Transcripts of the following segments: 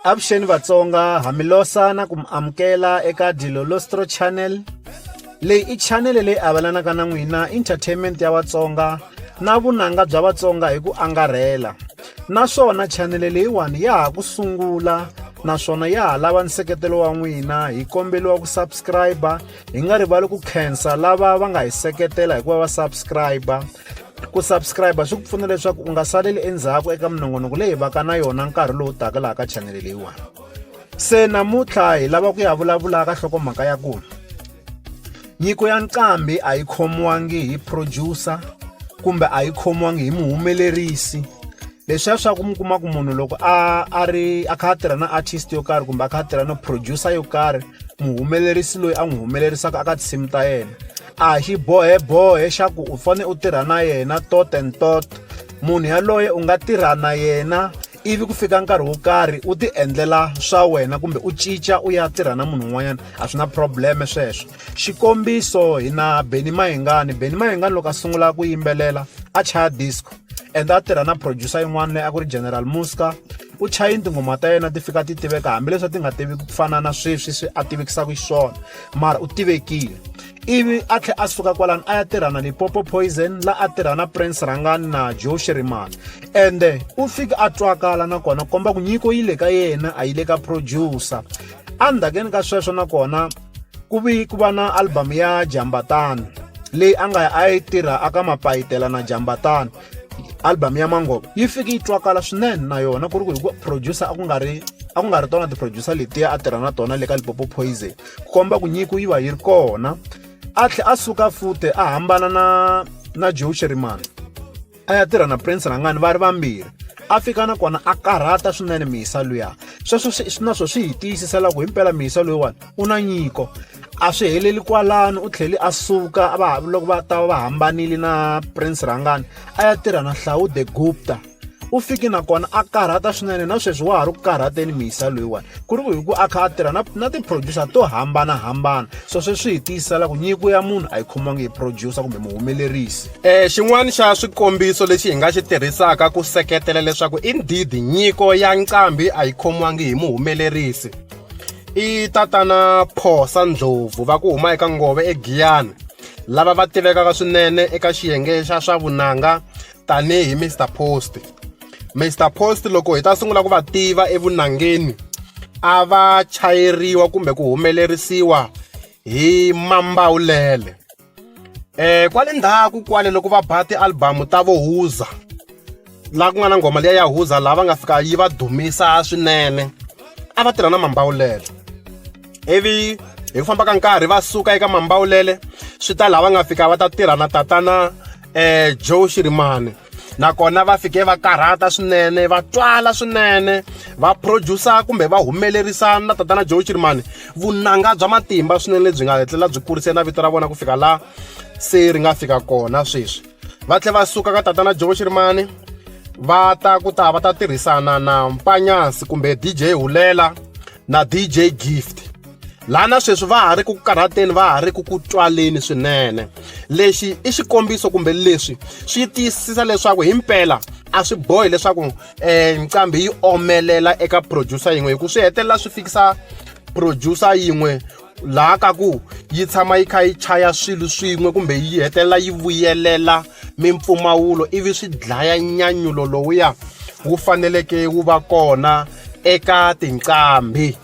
avuxeni vatsonga ha mi losa na ku mi amukela eka dilolostro channel leyi i chanele leyi avelanaka na n'wina entertainment ya vatsonga na vunanga bya vatsonga hi ku angarhela naswona chanele leyiwani ya ha ku sungula naswona ya ha lava nseketelo wa n'wina hi kombeliwa ku subscribe hi nga rivali ku khensa lava va nga hi seketela hikuva va subscribe ku subscribe swi ku pfuna leswaku u nga saleli endzhaku eka minongonoko leyi vaka na yona nkarhi lowu taka laha ka chanele leyiwani se namuntlha hi lava ku ya vulavula ka hlokomhaka ya ku nyiko ya nqambi a yi khomiwangi hi producer kumbe a yi khomiwangi hi muhumelerisi leswiya swa ku mi kuma ku munhu loko a a ri a kha a tirha na artist yo karhi kumbe a kha a tirha na producer yo karhi muhumelerisi loyi a n'wi humelerisaka aka tinsimu ta yena a hi xibohebohe xa ku u fanele u tirha na yena tot and tot munhu yaloye u nga tirha na yena ivi ku fika nkarhi wo karhi u ti endlela swa wena kumbe u cinca u ya tirha na munhu un'wanyana a swi na probleme sweswo xikombiso hi na beni mahingani beni mahingani loko a sungula ku yimbelela a chaya disco and a tirha na producer yin'wana leyi a ku ri general muska u chaye tinghoma ta yena ti fika ti tiveka hambileswi a ti nga tiviki ku fana na sweswi swi a tivikisaka xiswona mara u tivekile ivi a tlhe a suka kwalani a ya tirha na lipopo poison la a tirha na prince rangani na joe shirimani ende u fike a twakala nakona komba ku nyiko yi le ka yena a yi le ka producer endzhakeni ka sweswo nakona ku vi ku va na album ya jambatana leyi a nga a yi tirha aka mapayitela na jambatana album ya mangoba yi fike yi twakala swinene na yona ku ri ku hi ku producer a ku nga ri a ku nga ri tona ti-producer letiya a tirha na tona le ka lipopo poison ku komba ku nyiko yi va yi ri kona a tlhe a suka fute a hambana na na joe sherimani a ya tirha na prince rangani va ri vambirhi a fika nakona a karhata swinene mihisa luya sweswo swi na swo swi hi tiyisisela ku himpela mihisa loyiwani u na nyiko a swi heleli kwalano u tlhele a suka va loko va ta va hambanile na prince rhangani a ya tirha na hlawu the gupta u fike nakona a karhata swinene na sweswi wa ha ri ku karhateni mihisa loyiwani ku ri ku hi ku a kha a tirha na na ti-producer to hambanahambana so sweswi hi tiyisela ku nyiko ya munhu a yi khomiwangi hi producer kumbe muhumelerisi um xin'wana xa swikombiso lexi hi nga xi tirhisaka ku seketela leswaku indeed nyiko ya nqambi a yi khomiwangi hi muhumelerisi I tatana Phosa Ndlovu va ku huma eka Nghovo eGiyani lava va tivekaka swinene eka xiyenge xa swa vunanga tanihi Mister Post. Mister Post loko hi ta sungula ku va tiva evunangeni a va chayeriwa kumbe ku humelerisiwa hi Mambawulele. Eh kwale ndzhaku kwale loko va ba ti-album ta vo Woza laha ku nga na nghoma liya ya Woza laha va nga fika yi va dumisa swinene a va tirha na Mambawulele ivi hi ku famba ka nkarhi va suka eka Mambawulele swi ta laha va nga fika va ta tirha na tatana. Joe Shirimani nakona va fike va karhata swinene va twala swinene va producer kumbe va humelerisa na tatana Joe Shirimani vunanga bya matimba swinene lebyi nga hetlela byi kurise na vito ra vona ku fika laha se ri nga fika kona sweswi va tlhela va suka ka tatana Joe Shirimani va ta ku ta va ta tirhisana na Mpanyasi kumbe DJ Hulela na DJ Gift laha na sweswi va ha ri ku karhateni va ha ri ku ku tswaleni swinene lexi i xikombiso kumbe leswi swi tiyisisa leswaku hi mpela a swi bohi leswaku um eh, nqambi yi omelela eka producer yin'we hikuva swi hetelela swi fikisa producer yin'we laha ka ku yi tshama yi kha yi chaya swilo swin'we kumbe yi hetelela yi vuyelela mimpfumawulo ivi swi dlaya nyanyulo lowuya wu faneleke wu va kona eka tinqambi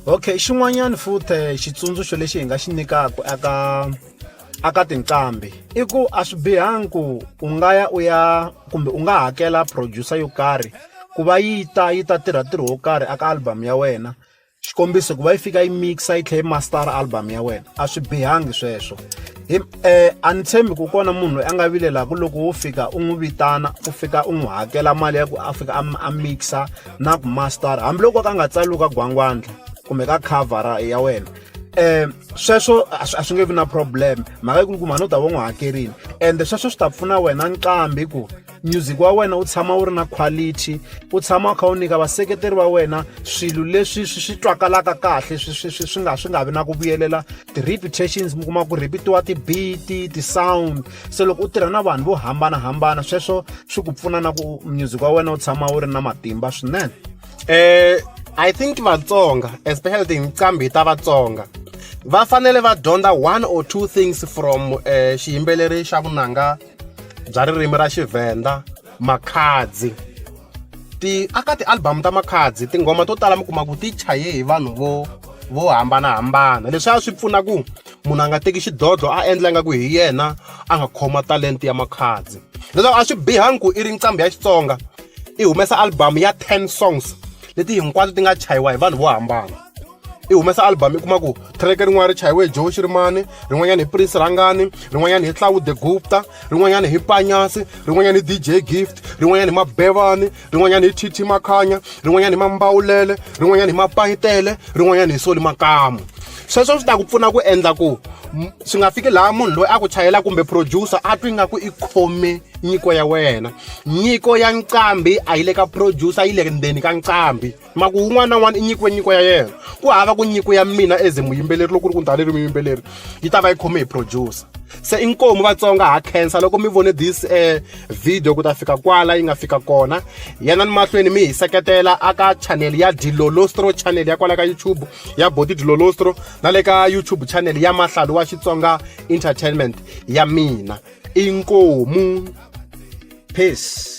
okay xin'wanyana futhi eh, xitsundzuxo lexi hi nga xi nyikaka aka aka tinqambi i ku a swi bihangi ku u nga ya u ya kumbe u nga hakela producer yo karhi ku va yi ta yi ta tirha ntirho wo karhi aka album ya wena xikombiso ku va yi fika yi mixa yi tlhela yi master album ya wena a swi bihangi sweswo hi um a ni tshembi ku kona munhu loyi a nga vilelaku loko wo fika u n'wi vitana u fika u n'wi hakela mali ya ku a fika a mixa na ku master hambiloko ka nga tsaliwi ka gwangwandla kumbe ka cover ya wena eh sweswo a swi nge vi na problem mhaka yi kulukumba no ta va n'wi hakerile ende sweswo swi ta pfuna wena nqambi ku music wa wena wu tshama wu ri na quality u tshama u kha u nyika vaseketeri va wena swilo leswi swi swi twakalaka kahle swi swi swi swi nga swi nga vi na ku vuyelela ti-reputations mi kuma ku repitiwa ti-beat ti-sound se loko u tirha na vanhu vo hambanahambana sweswo swi ku pfuna na ku music wa wena wu tshama wu ri na matimba swinene um i think vatsonga especially tinqambi ta vatsonga va fanele va dyondza one or two things from um xiyimbeleri xa vunanga bya ririmi ra Xivhenda Makhadzi ti aka ti-album ta Makhadzi tinghoma to tala mi kuma ku ti chaye hi vanhu vo vo hambanahambana leswi a swi pfuna ku munhu a nga teki xidlodlo a endla nga ku hi yena a nga khoma talenta ya Makhadzi leswaku a swi bihangi ku i ri nqambi ya Xitsonga i humesa album ya ten songs leti hinkwato ti nga chayiwa hi vanhu vo hambana i humesa album i kuma ku track rin'wana ri chayiwe hi joe xirimani rin'wanyana hi prince rhangani rin'wanyana hi tlawude gupta rin'wanyana hi panyasi rin'wanyana hi dj gift rin'wanyana hi mabevani rin'wanyana hi tt makhanya rin'wanyana hi mambawulele rin'wanyana hi mapayitele rin'wanyana hi soli makamu sweswo swi ta ku pfuna ku endla ku swi nga fiki laha munhu loyi a ku chayela kumbe producer a twi nga ku i khome nyiko ya wena nyiko ya nqambi a yi le ka producer yi le ndzeni ka nqambi Ma ku un'wana na un'wana i nyikiwe nyiko ya yena ku hava ku nyiko ya mina as muyimbeleri loko ku ri ku ni tani ri muyimbeleri yi ta va yi khome hi producer se i nkomu vatsonga ha khensa loko mi vone this um video ku ta fika kwala yi nga fika kona yena ni mahlweni mi hi seketela aka channel ya dilolostro channel ya kwala ka youtube ya boti dilolostro na le ka youtube channel ya mahlalu wa xitsonga entertainment ya mina i nkomu peace